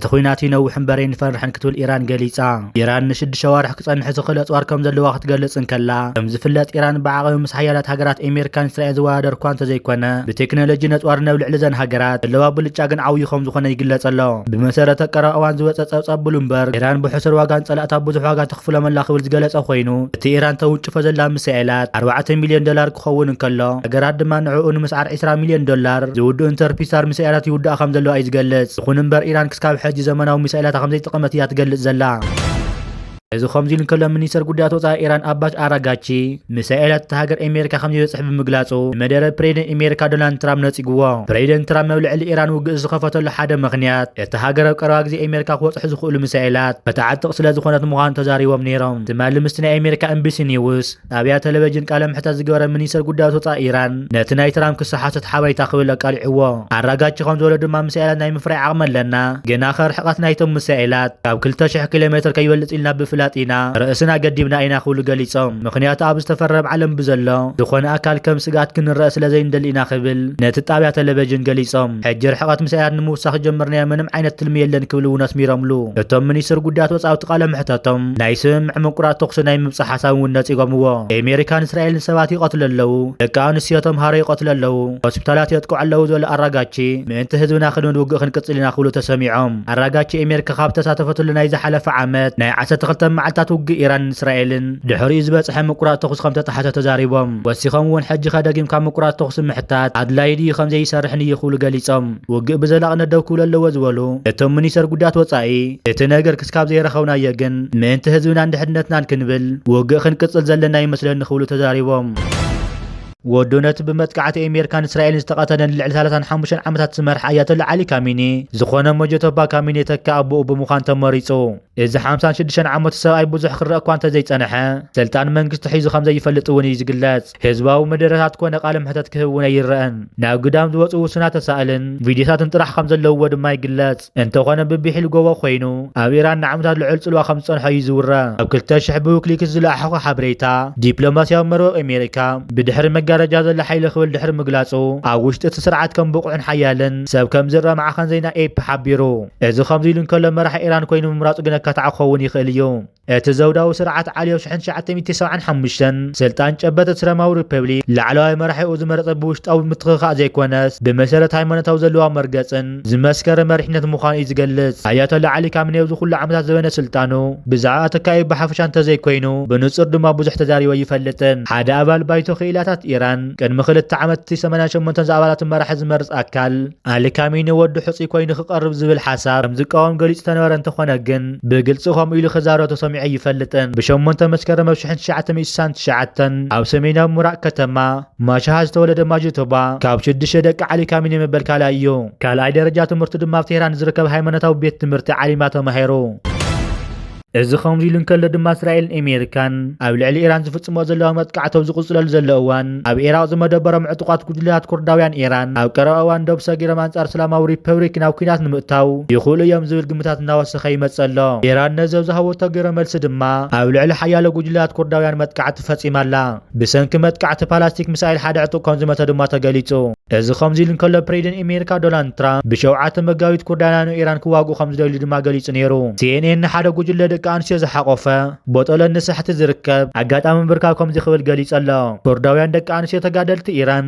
እቲ ኩናት ይነውሕ እምበር ይንፈርሕን ክትብል ኢራን ገሊጻ ኢራን ንሽዱሽተ ሸዋርሕ ክጸንሐ ዝኽእል ኣጽዋር ከም ዘለዋ ክትገልጽ እንከላ ከም ዝፍለጥ ኢራን ብዓቕሚ ምስ ሓያላት ሃገራት ኣሜሪካን እስራኤል ዝወዳደር እኳ እንተዘይኮነ ብቴክኖሎጂ ነጽዋር ነብ ልዕሊ ዘን ሃገራት ዘለዋ ብልጫ ግን ዓብዩ ከም ዝኾነ ይግለጸ ኣሎ ብመሰረት ቀረባ እዋን ዝወፀ ፀብፃብ ብሉምበርግ ኢራን ብሕሱር ዋጋ ንፀላእታ ብዙሕ ዋጋ ተኽፍሎም ኣላ ክብል ዝገለፀ ኮይኑ እቲ ኢራን ተውንጭፎ ዘላ ሚሳኤላት ኣርባዕተ ሚልዮን ዶላር ክኸውን እንከሎ ሃገራት ድማ ንዕኡ ንምስዓር ዒስራ ሚልዮን ዶላር ዝውድኡ ኢንተርፒሳር ሚሳኤላት ይውድኣ ከም ዘለዋ እዩ ዝገልፅ። ይኹን እምበር ኢራን ክስካብ ሕጂ ዘመናዊ ሚሳኤላታ ከም ዘይተጠቐመት እያ ትገልፅ ዘላ። እዚ ከምዚ ኢሉ እንከሎ ሚኒስተር ጉዳያት ወጻኢ ኢራን ኣባስ ኣራጋቺ ሚሳኤላት እታ ሃገር ኣሜሪካ ከምዘይበጽሕ ብምግላጹ ንመደረ ፕሬዚደንት ኣሜሪካ ዶናልድ ትራምፕ ነጺጉዎ። ፕሬዚደንት ትራምፕ ኣብ ልዕሊ ኢራን ውግእ ዝኸፈተሉ ሓደ ምኽንያት እታ ሃገር ኣብ ቀረባ ግዜ ኣሜሪካ ክበጽሑ ዝኽእሉ ሚሳኤላት ከተዕጥቕ ስለዝኾነት ምዃኑ ተዛሪቦም ነይሮም ትማሊ ምስቲ ናይ ኣሜሪካ ኤንቢሲ ኒውስ ጣብያ ተለቨጅን ቃለ ምሕተት ዝገበረ ሚኒስተር ጉዳያት ወፃኢ ኢራን ነቲ ናይ ትራምፕ ክሲ ሓሶት ሓበሬታ ክብል ኣቃሊዕዎ። ኣራጋቺ ከም ዝበሎ ድማ ሚሳኤላት ናይ ምፍራይ ዓቕሚ ኣለና፣ ግና ከ ርሕቐት ናይቶም ሚሳኤላት ካብ ክልተ ሽሕ ኪሎ ሜትር ከይበልፅ ኢልና ብፍላጥ ኢና ርእስና ገዲብና ኢና ክብሉ ገሊፆም። ምኽንያቱ ኣብ ዝተፈረም ዓለም ብዘሎ ዝኾነ ኣካል ከም ስግኣት ክንረኣ ስለ ዘይንደሊ ኢና ክብል ነቲ ጣብያ ተለቨጅን ገሊፆም። ሕጂ ርሕቐት ሚሳኤላት ንምውሳኽ ዝጀመርናዮ ምንም ዓይነት ትልሚ የለን ክብል እውን ኣስሚሮምሉ እቶም ሚኒስትር ጉዳያት ወፃኢ ኣብቲ ቃለ ምሕተቶም። ናይ ስምምዕ ምቁራፅ ተኹሲ ናይ ምብፃሕ ሓሳብ እውን ነፂጎምዎ። ኤሜሪካን እስራኤልን ሰባት ይቐትሉ ኣለው፣ ደቂ ኣንስትዮ ተምሃሮ ይቐትሉ ኣለው፣ ሆስፒታላት የጥቅዑ ኣለው ዝበሉ ኣራጋቺ ምእንቲ ህዝብና ክንብል ውግእ ክንቅፅል ኢና ክብሉ ተሰሚዖም። ኣራጋቺ ኤሜሪካ ካብ ዝተሳተፈትሉ ናይ ዝሓለፈ ዓመት ናይ ዓሰርተ ክልተ መዓልትታት ውግእ ኢራንን እስራኤልን ድሕሪኡ ዝበፅሐ ምቁራፅ ተኹሲ ከምተጣሓሰ ተዛሪቦም። ወሲኾም እውን ሕጂኸ ደጊምካ ምቁራፅ ተኹሲ ምሕታት ኣድላዪ ድዩ ከምዘይሰርሕን እዩ ክብሉ ገሊፆም። ውግእ ብዘላቕነት ደው ክብሉ ኣለዎ ዝበሉ እቶም ሚኒስትር ጉዳያት ወፃኢ እቲ ነገር እስካብ ዘይረኸብናዮ ግን ምእንቲ ህዝብናን ድሕንነትናን ክንብል ውግእ ክንቅፅል ዘለና ይመስለኒ ክብሉ ተዛሪቦም። ወዱ ነቲ ብመጥቃዕቲ ኤሜርካን እስራኤልን ዝተቐተለን ልዕሊ ሳላሳን ሓሙሽተን ዓመታት ዝመርሐ ኣያቶላ ዓሊ ካሚኒ ዝኾነ ሞጀቶባ ካሚኒ የተክእ ኣቦኡ ብምዃን ተመሪፁ። እዚ ሓምሳን ሽዱሽተን ዓመቱ ሰብኣይ ብዙሕ ክረእ እኳ እንተዘይፀንሐ፣ ስልጣን መንግስቲ ሒዙ ከምዘይፈልጥ እውን እዩ ዝግለፅ። ህዝባዊ መደረታት ኮነ ቃለ መሕተት ክህቡን ኣይረኣን። ናብ ግዳም ዝወጹ ውሱናት ተሳእልን ቪድዮታትን ጥራሕ ከም ዘለውዎ ድማ ይግለጽ። እንተኾነ ብብሒል ጎቦ ኮይኑ ኣብ ኢራን ንዓመታት ልዑል ጽልዋ ከም ዝጸንሖ እዩ ዝውረ። ኣብ ክልተ ሽሕ ብዊክሊክስ ዝለኣሓኾ ሓበሬታ፣ ዲፕሎማስያዊ መርወቅ ኣሜሪካ ብድሕሪ መጋረጃ ዘሎ ሓይሊ ክብል ድሕሪ ምግላጹ፣ ኣብ ውሽጢ እቲ ስርዓት ከም ብቑዕን ሓያልን ሰብ ከም ዝረኣ ማዕከን ዜና ኤፒ ሓቢሩ። እዚ ከምዚ ኢሉ እንከሎ መራሒ ኢራን ኮይኑ ምምራጹ ግን ኣካታዒ ክኸውን ይኽእል እዩ። እቲ ዘውዳዊ ስርዓት ዓልዮ ሽሕን ትሽዓተ ሚእቲ ሰብዓን ሓሙሽተን ስልጣን ጨበጠ እስላማዊ ሪፐብሊክ ላዕለዋይ መራሒኡ ዝመረጸ ብውሽጣዊ ምትኽኻእ ዘይኮነስ ብመሰረት ሃይማኖታዊ ዘለዋ መርገጽን ዝመስከረ መሪሕነት ምዃኑ እዩ ዝገልጽ። ኣያቶላ ዓሊ ካሚኔ ኣብዚ ኩሉ ዓመታት ዘበነ ስልጣኑ ብዛዕባ ተካኢኡ ብሓፈሻ እንተዘይኮይኑ ብንጹር ድማ ብዙሕ ተዛሪቡ ኣይፈልጥን። ሓደ ኣባል ባይቶ ክኢላታት ኢራን ቅድሚ ክልተ ዓመት እቲ ሰማንያን ሸሞንተን ዝኣባላቱ መራሒ ዝመርጽ ኣካል፣ ኣሊ ካሚኒ ወዲ ሕፁይ ኮይኑ ክቐርብ ዝብል ሓሳብ ከም ዝቃወም ገሊፁ ተነበረ እንተኾነ ግን ብግልፂ ከምኡ ኢሉ ክዛረብ ተሰሚዑ ኣይፈልጥን። ብ ሸሞንተ መስከረም ብ ሽሕን ትሽዓተ ሚእቲ ስሳን ትሽዓተን ኣብ ሰሜናዊ ምራቅ ከተማ ማሻሃ ዝተወለደ ማጅቶባ ካብ ሽዱሽተ ደቂ ዓሊ ካሚኒ መበል ካልኣይ እዩ። ካልኣይ ደረጃ ትምህርቱ ድማ ኣብ ቴህራን ዝርከብ ሃይማኖታዊ ቤት ትምህርቲ ዓሊማ ተማሂሩ። እዚ ከምዚ ኢሉ እንከሎ ድማ እስራኤልን ኤሜሪካን ኣብ ልዕሊ ኢራን ዝፍጽሞ ዘለዋ መጥቃዕቲ ኣብ ዝቕጽለሉ ዘሎ እዋን ኣብ ኢራቕ ዝመደበሮም ዕጡቓት ጉጅለታት ኩርዳውያን ኢራን ኣብ ቀረባ እዋን ዶብ ሰጊሮም ኣንጻር እስላማዊ ሪፐብሪክ ናብ ኲናት ንምእታው ይኽእሉ እዮም ዝብል ግምታት እናወሰኸ ይመጽእ ኣሎ። ኢራን ነዚ ኣብ ዝሃበቶ ግብረ መልሲ ድማ ኣብ ልዕሊ ሓያሎ ጉጅለታት ኩርዳውያን መጥቃዕቲ ፈጺማ ኣላ። ብሰንኪ መጥቃዕቲ ፓላስቲክ ምሳይል ሓደ ዕጡቕ ከም ዝመተ ድማ ተገሊጹ። እዚ ከምዚ ኢሉ እንከሎ ፕሬዚደን ኤሜሪካ ዶናልድ ትራምፕ ብሸውዓተ መጋቢት ኩርዳና ን ኢራን ክዋግኡ ከም ዝደልዩ ድማ ገሊጹ ነይሩ። ሲኤንኤን ንሓደ ጉጅለ ደቂ ኣንስትዮ ዝሓቖፈ ቦጦለ ንሳሕቲ ዝርከብ ኣጋጣሚ ምብርካው ከምዚ ክብል ገሊጹ ኣሎ። ኩርዳውያን ደቂ ኣንስትዮ ተጋደልቲ ኢራን፣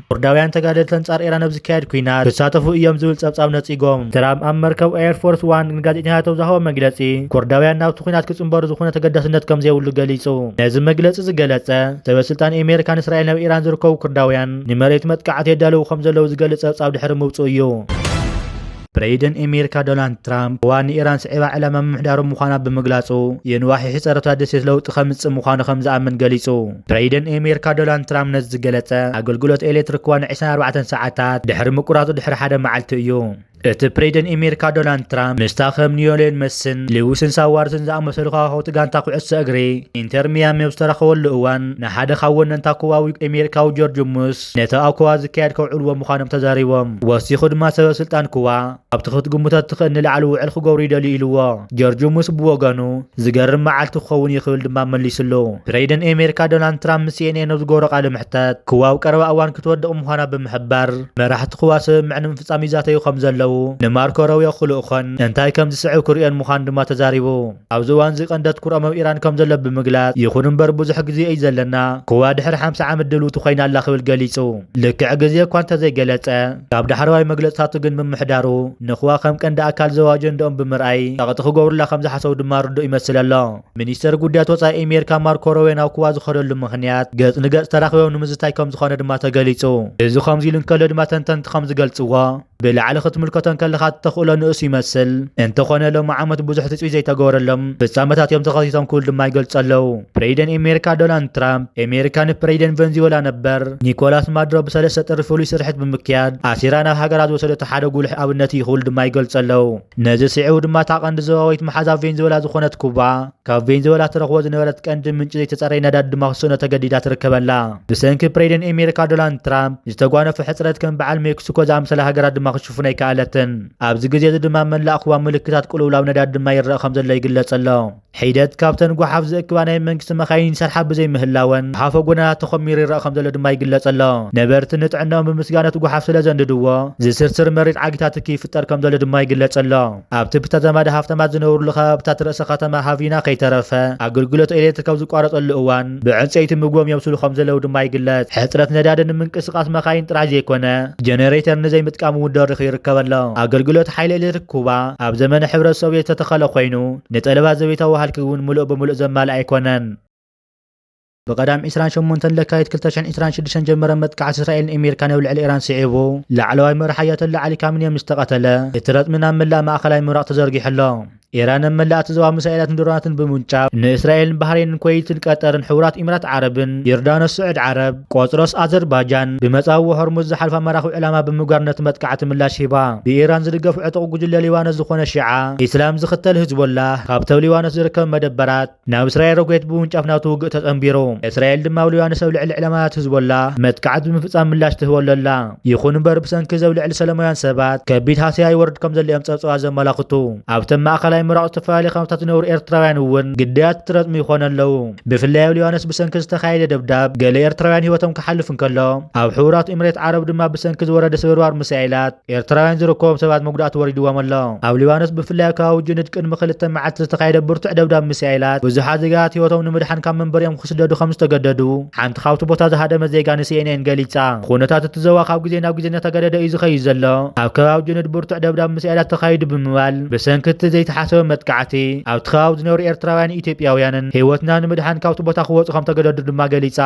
ኩርዳውያን ተጋደልቲ ኣንጻር ኢራን ኣብ ዝካየድ ኩናት ክሳተፉ እዮም ዝብል ጸብጻብ ነጺጎም። ትራም ኣብ መርከብ ኤርፎርስ ዋን ንጋዜጠኛታት ኣብ ዝሃቦ መግለጺ ኩርዳውያን ናብቲ ኩናት ክጽንበሩ ዝኾነ ተገዳስነት ከም ዘይብሉ ገሊጹ። ነዚ መግለጺ ዝገለጸ ሰበ ስልጣን ኤሜሪካን እስራኤልን ኣብ ኢራን ዝርከቡ ኩርዳውያን ንመሬት መጥቃዕቲ የዳልዉ ከም ዘለዉ ዝገልጽ ጸብጻብ ድሕሪ ምውጽኡ እዩ። ፕረይደን ኤሜሪካ ዶናልድ ትራምፕ ህዋ ንኢራን ስዒባ ዕላማ ምምሕዳሩ ምዃና ብምግላጹ የንዋሕ ይሕጸረታ ደሴት ለውጢ ከምጽእ ምዃኑ ከም ዝኣምን ገሊጹ። ፕረይደን ኤሜሪካ ዶናልድ ትራምፕ ነዚ ዝገለጸ ኣገልግሎት ኤሌትሪክ ህዋ ን ዕስራን ኣርባዕተን ሰዓታት ድሕሪ ምቁራጹ ድሕሪ ሓደ መዓልቲ እዩ። እቲ ፕረይደን ኤሜሪካ ዶናልድ ትራምፕ ምስታ ከም ንዮሌን መስን፣ ልዊስን ሳዋርስን ዝኣመሰሉ ከዋኽብቲ ጋንታ ኩዕሶ እግሪ ኢንተር ሚያሚ ኣብ ዝተራኸበሉ እዋን ንሓደ ካብ ወነንታ ኩባዊ ኤሜሪካዊ ጆርጅ ሙስ፣ ነቲ ኣብ ኩባ ዝካየድ ከውዕልዎ ምዃኖም ተዛሪቦም። ወሲኹ ድማ ሰበ ስልጣን ኩባ ኣብቲ ክትግምቶ እትኽእል ንላዕሊ ውዕል ክገብሩ ይደልዩ ኢሉዎ። ጀርጅሙስ ብወገኑ ዝገርም መዓልቲ ክኸውን እዩ ክብል ድማ መሊስሉ። ፕሬደን ኤሜሪካ ዶናልድ ትራምፕ ምስ ሲኤንኤን ኣብ ዝገበሮ ቃለ መሕተት ኩባ ኣብ ቀረባ እዋን ክትወድቕ ምዃና ብምሕባር መራሕቲ ኩባ ስምምዕ ንምፍጻም ይዛተዩ ከምዘለዉ ንማርኮ ሮቢዮ ክልእኾን እንታይ ከምዝስዕብ ክርእዮን ምዃኑ ድማ ተዛሪቡ። ኣብዚ እዋንዚ ቀንዲ ኣትኩሮኦም ኣብ ኢራን ከምዘሎ ብምግላጽ፣ ይኹን'ምበር ብዙሕ ግዜ እዩ ዘለና፣ ኩባ ድሕሪ ሓምሳ ዓመት ድልውቲ ኮይና ኣላ ክብል ገሊጹ። ልክዕ ግዜ እኳ እንተዘይገለጸ፣ ካብ ዳሕረዋይ መግለጽታቱ ግን ምምሕዳሩ ንኩባ ከም ቀንዲ ኣካል ዞባ ኣጀንድኦም ብምርኣይ ጸቕጢ ክገብሩላ ከምዝሓሰቡ ድማ ርዱእ ይመስል ኣሎ። ሚኒስተር ጉዳያት ወጻኢ ኤሜሪካ ማርኮ ሮቤዮ ናብ ኩባ ዝኸደሉ ምኽንያት፣ ገጽ ንገጽ ተራኺቦም ንምዝታይ ከምዝኾነ ድማ ተገሊጹ። እዚ ከምዚሉ እንከሎ ድማ ተንተንቲ ከምዝገልጽዎ፣ ብላዕሊ ክትምልከቶ እንከለኻ እቲ ተኽእሎ ንኡስ ይመስል። እንተኾነ ሎሚ ዓመት ብዙሕ ትጽቢት ዘይተገበረሎም ፍጻመታት እዮም ተኸሲቶም ክብሉ ድማ ይገልጹ ኣለዉ። ፕሬይደን ኤሜሪካ ዶናልድ ትራምፕ፣ ኤሜሪካ ንፕሬይደን ቨንዚወላ ነበር ኒኮላስ ማዱሮ ብ ሰለስተ ጥሪ ፍሉይ ስርሒት ብምክያድ ኣሲራ ናብ ሃገራ ዝወሰደቶ ሓደ ጉሉሕ ኣብነት እዩ ክብሉ ድማ ይገልጹ ኣለዉ። ነዚ ስዒቡ ድማ እታ ቀንዲ ዞባዊት መሓዛ ቬንዚወላ ዝኾነት ኩባ፣ ካብ ቬንዙዌላ ትረኽቦ ዝነበረት ቀንዲ ምንጪ ዘይተጸረየ ነዳዲ ድማ ክስእኖ ተገዲዳ ትርከበላ። ብሰንኪ ፕሬደን ኤሜሪካ ዶላንድ ትራምፕ ዝተጓነፎ ሕጽረት ከም በዓል ሜክሲኮ ዝኣምሰላ ሃገራት ድማ ክሽፍኖ ኣይከኣለትን። ኣብዚ ግዜ እዚ ድማ ኣብ መላእ ኩባ ምልክታት ቅልውላው ነዳዲ ድማ ይረኣ ከም ዘሎ ይግለጽ ኣሎ። ሒደት ካብተን ጓሓፍ ዝእክባ ናይ መንግስቲ መካይን ይሰርሓ ብዘይምህላወን ጓሓፎ ጎደናታት ተኾሚሩ ይረኣ ከም ዘሎ ድማ ይግለጽ ኣሎ። ነበርቲ ንጥዕነኦም ብምስጋእ ነቲ ጓሓፍ ስለ ዘንድድዎ ዝስርስር መሪር ዓጊታት ትኪ ይፍጠር ከም ዘሎ ድማ ይግለጽ ኣሎ። ኣብቲ ብተዛማዲ ሃፍታማት ዝነብሩሉ ከባብታት ርእሰ ከተማ ሃቪና ከይተረፈ ኣገልግሎት ኤሌክትሪክ ኣብ ዝቋረጸሉ እዋን ብዕንጸይቲ ምግቦም የብስሉ ከምዘለዉ ድማ ይግለጽ። ሕጽረት ነዳዲ ንምንቅስቓስ መካይን ጥራሕ ዘይኮነ ጀነሬተር ንዘይምጥቃም እውን ደሪኹ ይርከብ ኣሎ። ኣገልግሎት ሓይሊ ኤሌክትሪክ ኩባ ኣብ ዘመነ ሕብረት ሶቭየት ዝተተኸለ ኮይኑ ንጠለባት ዘቤታዊ ሃልኪ እውን ምሉእ ብምሉእ ዘማልእ ኣይኮነን። ብቀዳም ዕስራን ሸሞንተን ለካቲት ክልተ ሽሕን ዕስራን ሽዱሽተን ዝጀመረ መጥቃዕቲ እስራኤልን ኤሜርካን ኣብ ልዕሊ ኢራን ስዒቡ፣ ላዕለዋይ መራሒ ኣያቶላ ዓሊ ካሚኔ ምስ ተቐተለ፣ እቲ ረጽሚ ናብ መላእ ማእከላይ ምብራቕ ተዘርጊሑ ኣሎ። ኢራን ኣብ መላእ እቲ ዞባ ሚሳኤላትን ድሮናትን ብምውንጫፍ፣ ንእስራኤልን ባህሬንን ኩወይትን ቀጠርን ሕቡራት ኢሚራት ዓረብን ዮርዳኖስ ስዑድ ዓረብ፣ ቆጵሮስ ኣዘርባጃን፣ ብመጻብቦ ሆርሙዝ ዝሓልፋ መራኽብ ዕላማ ብምግባር ነቲ መጥቃዕቲ ምላሽ ሂባ። ብኢራን ዝድገፍ ዕጡቕ ጉጅለ ሊባኖስ ዝኾነ ሺዓ ኢስላም ዝኽተል ህዝቦላህ፣ ካብቲ ኣብ ሊባኖስ ዝርከብ መደበራት፣ ናብ እስራኤል ሮኬት ብምውንጫፍ ናቱ ውግእ ተጸንቢሩ። እስራኤል ድማ ኣብ ሊባኖስ ኣብ ልዕሊ ዕላማታት ህዝቦላ መጥቃዕቲ ብምፍጻም ምላሽ ትህበሉ ኣላ። ይኹን እምበር ብሰንኪ እዚ ኣብ ልዕሊ ሰለማውያን ሰባት ከቢድ ሃሰያ ይወርድ ከምዘሎ እዮም ጸብጻባት ዘመላኽቱ። ኣብተን ማእከላይ ምብራቕ ዝተፈላለየ ካምፕታት ዝነብሩ ኤርትራውያን እውን ግዳያት እቲ ረጽሚ ይኾኑ ኣለዉ። ብፍላይ ኣብ ሊባኖስ ብሰንኪ ዝተኻየደ ደብዳብ ገለ ኤርትራውያን ህይወቶም ክሓልፍ እንከሎ፣ ኣብ ሕቡራት ኢምሬት ዓረብ ድማ ብሰንኪ ዝወረደ ስብርባር ሚሳኤላት ኤርትራውያን ዝርከቦም ሰባት መጉዳእቲ ወሪድዎም ኣሎ። ኣብ ሊባኖስ ብፍላይ ኣብ ከባቢ ጁኒድ ቅድሚ ክልተ መዓልቲ ዝተኻየደ ብርቱዕ ደብዳብ ሚሳኤላት ብዙሓት ዜጋታት ህይወቶም ንምድሓን ካብ መንበሪኦም ክስደዱ ከምዝተገደዱ ሓንቲ ካብቲ ቦታ ዝሃደመት ዜጋ ንሲኤንኤን ገሊጻ። ኹነታት እቲ ዞባ ካብ ግዜ ናብ ግዜ እናተጋደደ እዩ ዝኸይድ ዘሎ። ኣብ ከባቢ ጁኒድ ብርቱዕ ደብዳብ ሚሳኤላት ተኻይዱ ብምባል ብሰንኪ እቲ ዘይተሓሰበ መጥቃዕቲ ኣብቲ ከባቢ ዝነብሩ ኤርትራውያንን ኢትዮጵያውያንን ህይወትና ንምድሓን ካብቲ ቦታ ክወጹ ከምተገደዱ ድማ ገሊጻ።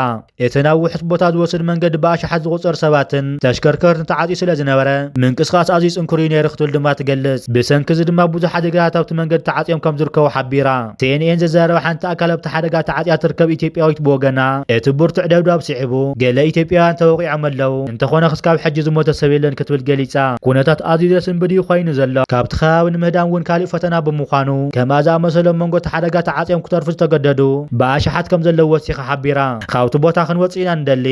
እቲ ናብ ውሑስ ቦታ ዝወስድ መንገዲ ብኣሽሓት ዝቑጸር ሰባትን ተሽከርከርትን ተዓጽዩ ስለ ዝነበረ፣ ምንቅስቓስ ኣዝዩ ጽንኩር'ዩ ነይሩ ክትብል ድማ ትገልጽ። ብሰንኪ'ዚ ድማ ብዙሕ ሓደጋታት ኣብቲ መንገዲ ተዓጽዮም ከም ዝርከቡ ሓቢራ። ሲኤንኤን ዘዘራረባ ሓንቲ ኣካል ኣብቲ ሓደጋ ተዓጽያ እትርከብ ኢትዮጵያዊት ብወገና፣ እቲ ብርቱዕ ደብዳብ ስዒቡ ገለ ኢትዮጵያውያን ተወቒዖም ኣለዉ። እንተኾነ ክስካብ ሕጂ ዝሞተ ሰብ የለን ክትብል ገሊጻ። ኩነታት ኣዝዩ ዘስንብድ እዩ ኮይኑ ዘሎ። ካብቲ ከባቢ ንምህዳም እውን ካሊእ ፈተና ብምዃኑ ከምኣ ዝኣመሰሉ ኣብ መንጎ እቲ ሓደጋ ተዓጽዮም ክተርፉ ዝተገደዱ ብኣሽሓት ከምዘለዉ ወሲኻ ሓቢራ። ካብቲ ቦታ ክንወጽእ ኢና ንደሊ።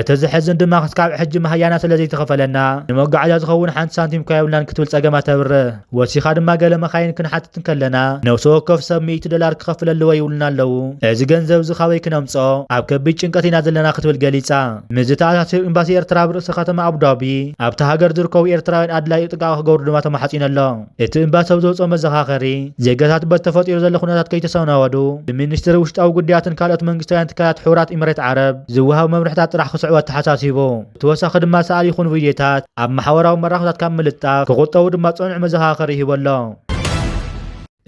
እቲ ዘሕዝን ድማ ክስካብ ሕጂ መሃያና ስለዘይተኸፈለና ንመጓዓዝያ ዝኸውን ሓንቲ ሳንቲም እኳ የብልናን ክትብል ጸገማ ተብርህ። ወሲኻ ድማ ገለ መኻይን ክንሓትት እንከለና ነብሲ ወከፍ ሰብ ሚእቲ ዶላር ክኸፍል ኣለዎ ይብሉና ኣለዉ። እዚ ገንዘብ እዚ ካበይ ክነምጽኦ? ኣብ ከቢድ ጭንቀት ኢና ዘለና ክትብል ገሊጻ። ምስዚ ተኣሳሲሩ ኤምባሲ ኤርትራ ኣብ ርእሰ ከተማ ኣቡዳቢ ኣብታ ሃገር ዝርከቡ ኤርትራውያን ኣድላዩ ጥንቃቐ ክገብሩ ድማ ተማሕጺኑ ኣሎ። እቲ ኤምባሲ ኣብ ዘውጽኦ መዘኻኸሪ፣ ዜጋታት በቲ ተፈጢሩ ዘሎ ኩነታት ከይተሰናበዱ ብሚኒስትሪ ውሽጣዊ ጉዳያትን ካልኦት መንግስታውያን ትካላት ሕቡራት ኢምሬት ዓረብ ዝወሃቡ መምርሕታት ጥራሕ ክስዕቡ ኣተሓሳሲቡ። ብተወሳኺ ድማ ሰኣል ይኹን ቪድዮታት ኣብ ማሕበራዊ መራኸብታት ካብ ምልጣፍ ክቑጠቡ ድማ ጽኑዕ መዘኻኸሪ ሂቡ ኣሎ።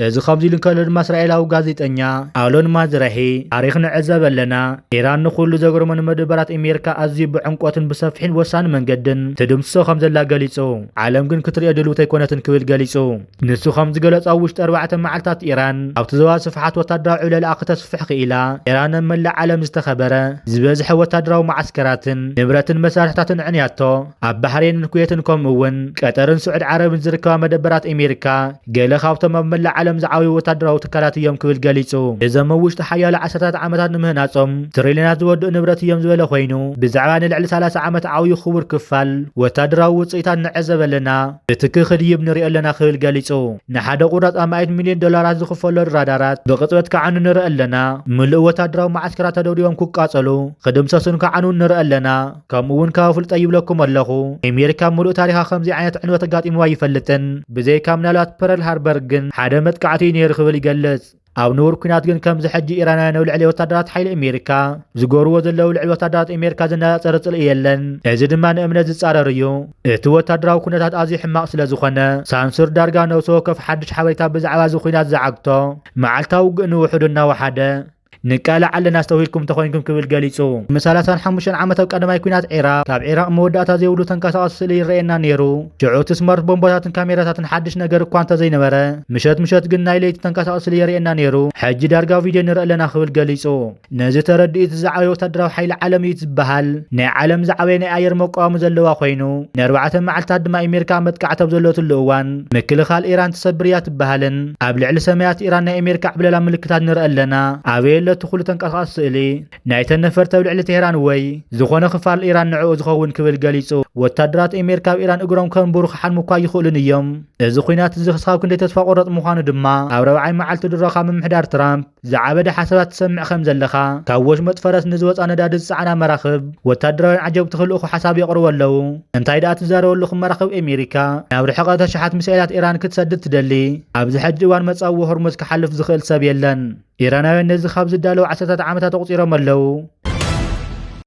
እዚ ከምዚ ኢሉ እንከሎ ድማ እስራኤላዊ ጋዜጠኛ ኣሎን ማዝራሂ ታሪኽ ንዕዘብ ኣለና፣ ኢራን ንኹሉ ዘግርሞ ንመደበራት እሜርካ ኣዝዩ ብዕምቆትን ብሰፍሒን ብወሳኒ መንገድን ትድምስሶ ከምዘላ ገሊጹ፣ ዓለም ግን ክትርእዮ ድልውቲ ኣይኮነትን ክብል ገሊጹ። ንሱ ከም ዝገለጾ ኣብ ውሽጢ ኣርባዕተ መዓልታት ኢራን ኣብቲ ዞባ ስፍሓት ወታደራዊ ዕብለላኣ ክተስፍሕ ክኢላ። ኢራን ኣብ መላእ ዓለም ዝተኸበረ ዝበዝሐ ወታደራዊ መዓስከራትን ንብረትን መሳርሕታትን ኣዕንያቶ። ኣብ ባሕሬንን ኩዌትን ከምኡ'ውን ቀጠርን ስዑድ ዓረብን ዝርከባ መደበራት ኤሜሪካ ገለ ካብቶም ኣብ መላእ ዓለም ዝዓበዩ ወታደራዊ ትካላት እዮም ክብል ገሊጹ። እዞም ኣብ ውሽጢ ሓያሎ ዓሰርታት ዓመታት ንምህናጾም ትሪልዮናት ዝወድኡ ንብረት እዮም ዝበለ ኮይኑ፣ ብዛዕባ ንልዕሊ ሰላሳ ዓመት ዓብዩ ክቡር ክፋል ወታደራዊ ውጽኢታት ንዕዘብ ኣለና። እቲ ክኽድይብ ንሪኦ ኣለና ክብል ገሊጹ። ንሓደ ቁራጽ ኣማኢት ሚልዮን ዶላራት ዝኽፈሎን ራዳራት ብቕጽበት ክዓኑ ንርኢ ኣለና። ምሉእ ወተሃደራዊ መዓስከራት ተደብዲቦም ክቃጸሉ፣ ክድምሰሱን ክዓንዉን ንርኢ ኣለና። ከምኡ'ውን ካብ ኣፍልጦይ ይብለኩም ኣለኹ፣ ኣሜሪካ ኣብ ምሉእ ታሪኻ ከምዚ ዓይነት ዕንወት ኣጋጢምዋ ኣይፈልጥን፣ ብዘይካ ምናልባት ፐረል ሃርበር ግን ሓደ መጥቃዕቲ'ዩ ነይሩ ክብል ይገልጽ። ኣብ ንቡር ኩናት ግን ከምዚ ሕጂ ኢራናውያን ኣብ ልዕሊ ወታደራት ሓይሊ ኣሜሪካ ዝገብርዎ ዘለዉ ልዕሊ ወታደራት ኣሜሪካ ዘነጻጸረ ጽልኢ የለን። እዚ ድማ ንእምነት ዝጻረር እዩ። እቲ ወታደራዊ ኩነታት ኣዝዩ ሕማቕ ስለ ዝኾነ፣ ሳንሱር ዳርጋ ነብሲ ወከፍ ሓድሽ ሓበሬታ ብዛዕባ እዚ ኩናት ዝዓግቶ፣ መዓልታዊ ውግእ ንውሑዱ እናወሓደ፣ ንቃላዕ ኣለና ኣስተውሂልኩም እንተኾይንኩም ክብል ገሊጹ። ቅድሚ ሰላሳን ሓሙሽተን ዓመት ኣብ ቀዳማይ ኩናት ዒራቕ፣ ካብ ዒራቕ መወዳእታ ዘይብሉ ተንቀሳቓሲ ስእሊ ይረኣየና ነይሩ። ሽዑቲ ስማርት ቦምባታትን ካሜራታትን ሓድሽ ነገር እኳ እንተዘይነበረ፣ ምሸት ምሸት ግን ናይ ለይቲ ተንቀሳቓሲ ስእሊ የርእየና ነይሩ፣ ሕጂ ዳርጋ ቪድዮ ንርኢ ኣለና ክብል ገሊጹ። ነዚ ተረድኡ እቲ ዝዓበየ ወተሃደራዊ ሓይሊ ዓለም እዩ እቲ ዝበሃል ናይ ዓለም ዝዓበየ ናይ ኣየር መቋሚ ዘለዋ ኮይኑ፣ ንኣርባዕተ መዓልታት ድማ ኤሜሪካ ኣብ መጥቃዕቲ ኣብ ዘለወትሉ እዋን ምክልኻል ኢራን ትሰብር እያ ትበሃልን ኣብ ልዕሊ ሰማያት ኢራን ናይ ኤሜሪካ ዕብለላ ምልክታት ንርኢ ኣለና ኣበይ ኣሎ እቲ ኩሉ ተንቀሳቓሲ ስእሊ? ናይተን ነፈርቲ ኣብ ልዕሊ ቴህራን ወይ ዝኾነ ክፋል ኢራን ንዕኡ ዝኸውን ክብል ገሊጹ። ወታደራት ኤሜሪካ ኣብ ኢራን እግሮም ከንብሩ ክሓልሙ እኳ ኣይኽእሉን እዮም። እዚ ኲናት እዚ ክሳብ ክንደይ ተስፋ ቆረጥ ምዃኑ ድማ ኣብ ረብዓይ መዓልቲ ድሮኻ ምምሕዳር ትራምፕ ዝዓበደ ሓሳባት ትሰምዕ ከም ዘለኻ ካብ ወሽመጥ ፈረስ ንዝወፃ ነዳዲ ዝፀዓና መራኽብ ወታደራውያን ዓጀብቲ ክልእኹ ሓሳብ የቕርቡ ኣለዉ እንታይ ደኣ ትዛረቡ ኣለኹም መራኽብ ኣሜሪካ ናብ ርሕቐት ኣሽሓት ሚሳኤላት ኢራን ክትሰድድ ትደሊ ኣብዚ ሕጂ እዋን መፃዊ ሆርሙዝ ክሓልፍ ዝኽእል ሰብ የለን ኢራናውያን ነዚ ካብ ዝዳለዉ ዓሰርታት ዓመታት ኣቑጺሮም ኣለዉ።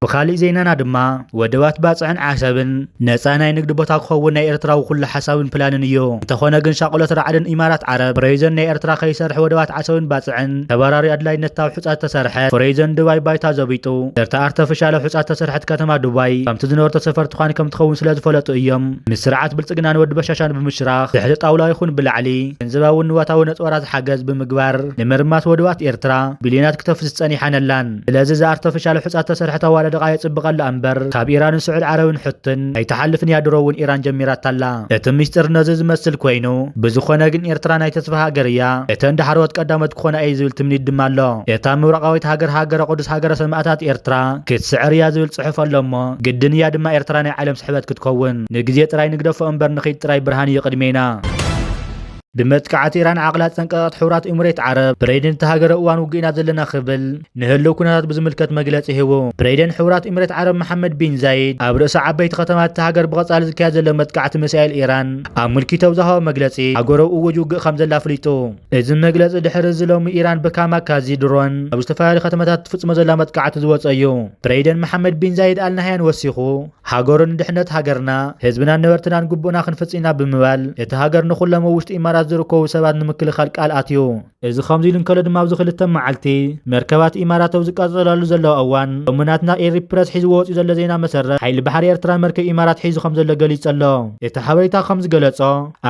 ብኻሊእ ዜናና ድማ ወደባት ባጽዕን ዓሰብን ነጻ ናይ ንግዲ ቦታ ክኸውን ናይ ኤርትራዊ ኩሉ ሓሳብን ፕላንን እዩ። እንተኾነ ግን ሻቕሎት ራዕድን ኢማራት ዓረብ ፍረይዘን ናይ ኤርትራ ከይሰርሕ ወደባት ዓሰብን ባጽዕን ተባራሪ ኣድላይነት ታብ ሑጻ ዝተሰርሐት ፍረይዘን ዱባይ ባይታ ዘቢጡ ድርታ ኣርተፍሻለ ሑጻ ዝተሰርሐት ከተማ ዱባይ ከምቲ ዝነበርቶ ሰፈርቲ ኳን ከምትኸውን ስለዝፈለጡ እዮም ምስ ስርዓት ብልጽግናን ወዲ በሻሻን ብምሽራኽ ትሕቲ ጣውላ ይኹን ብላዕሊ ገንዘባውን ንዋታዊ ነጽወራ ዝሓገዝ ብምግባር ንምርማስ ወድባት ኤርትራ ቢልዮናት ክተፍስ ጸኒሐን ኣላን። ስለዚ እዛ ኣርተፍሻል ሑጻ ዝተሰርሐት ኣዋዳድቓ የጽብቐላ እምበር ካብ ኢራንን ስዑድ ዓረብን ሑትን ኣይትሓልፍን እያ ድሮ እውን ኢራን ጀሚራታ ኣላ። እቲ ምስጢር ነዚ ዝመስል ኮይኑ ብዝኾነ ግን ኤርትራ ናይ ተስፋ ሃገር እያ እተን ዳሕረዎት ቀዳሞት ክኾና እየ ዝብል ትምኒት ድማ ኣሎ። እታ ምብራቓዊት ሃገር ሃገረ ቁዱስ ሃገረ ሰማእታት ኤርትራ ክትስዕር እያ ዝብል ጽሑፍ ኣሎ እሞ ግድን እያ ድማ ኤርትራ ናይ ዓለም ስሕበት ክትከውን። ንግዜ ጥራይ ንግደፎ እምበር ንኺድ ጥራይ ብርሃን እዩ ቅድሜና። ብመጥቃዕቲ ኢራን ዓቕላ ዝጠንቀቐት ሕቡራት ኤምሬት ዓረብ፣ ብረይደን እታ ሃገር ኣብ እዋን ውግእ ኢና ዘለና ክብል ንህልው ኩነታት ብዝምልከት መግለጺ ሂቡ። ብረይደን ሕቡራት ኤምሬት ዓረብ መሓመድ ቢን ዛይድ ኣብ ርእሰ ዓበይቲ ከተማታት እታ ሃገር ብቐጻሊ ዝካየድ ዘሎ መጥቃዕቲ ሚሳኤል ኢራን ኣምልኪቱ ኣብ ዝሃቦ መግለጺ ሃገሩ እዉጅ ውግእ ከምዘላ ኣፍሊጡ። እዚ መግለጺ ድሕሪ እዚ ሎሚ ኢራን ብካማካዚ ድሮን ኣብ ዝተፈላለዩ ከተማታት እትፍጽሞ ዘላ መጥቃዕቲ ዝወጸ እዩ። ብረይደን መሓመድ ቢን ዛይድ ኣል ናህያን ወሲኹ፣ ሃገሩን ንድሕነት ሃገርና፣ ህዝብናን ነበርትናን ግቡእና ክንፍጽ ኢና ብምባል፣ እታ ሃገር ንኹሎም ኣብ ውሽጢ ኢማራት ዝርከቡ ሰባት ንምክልኻል ቃል ኣትዩ። እዚ ከምዚ ኢሉ እንከሎ ድማ ኣብዚ ክልተ መዓልቲ መርከባት ኢማራት ኣብ ዝቃጸላሉ ዘለዋ እዋን፣ ሎሚ ናትና ኤሪ ፕረስ ሒዝዎ ወጺኡ ዘሎ ዜና መሰረት፣ ሓይሊ ባሕሪ ኤርትራ መርከብ ኢማራት ሒዙ ከምዘሎ ገሊጹ ኣሎ። እቲ ሓበሬታ ከምዝገለጾ፣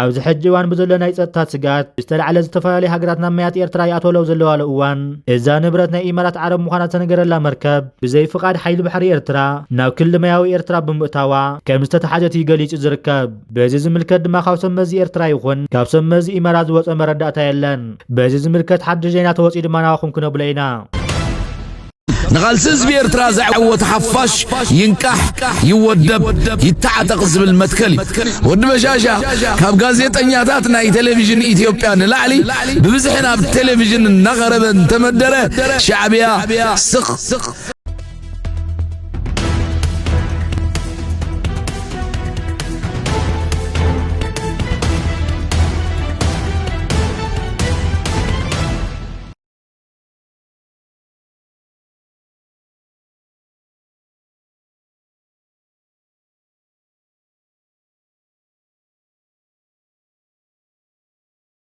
ኣብዚ ሕጂ እዋን ብዘሎ ናይ ጸጥታ ስግኣት ብዝተላዕለ ዝተፈላለያ ሃገራት ናብ ማያት ኤርትራ ይኣትዋሉ ኣብ ዘለዋሉ እዋን፣ እዛ ንብረት ናይ ኢማራት ዓረብ ምዃና ዝተነገረላ መርከብ፣ ብዘይ ፍቓድ ሓይሊ ባሕሪ ኤርትራ ናብ ክሊ ማያዊ ኤርትራ ብምእታዋ ከም ዝተታሕዘት እዩ ገሊጹ ዝርከብ። በዚ ዝምልከት ድማ ካብ ሰብ መዚ ኤርትራ ይኹን ካብ ሰብ መዚ ኢመራት ዝወጸ መረዳእታ የለን። በዚ ዝምልከት ሓድሽ ዜና ተወጽዩ ድማ ናባኹም ክነብሎ ኢና። ንቓልሲ ህዝቢ ኤርትራ ዘዐወት ሓፋሽ ይንቃሕ ይወደብ ይተዓጠቕ ዝብል መትከል እዩ። ወዲ በሻሻ ካብ ጋዜጠኛታት ናይ ቴሌቪዥን ኢትዮጵያ ንላዕሊ ብብዝሒ ናብ ቴሌቪዥን እናቐረበ እንተመደረ ሻዕብያ ስቕ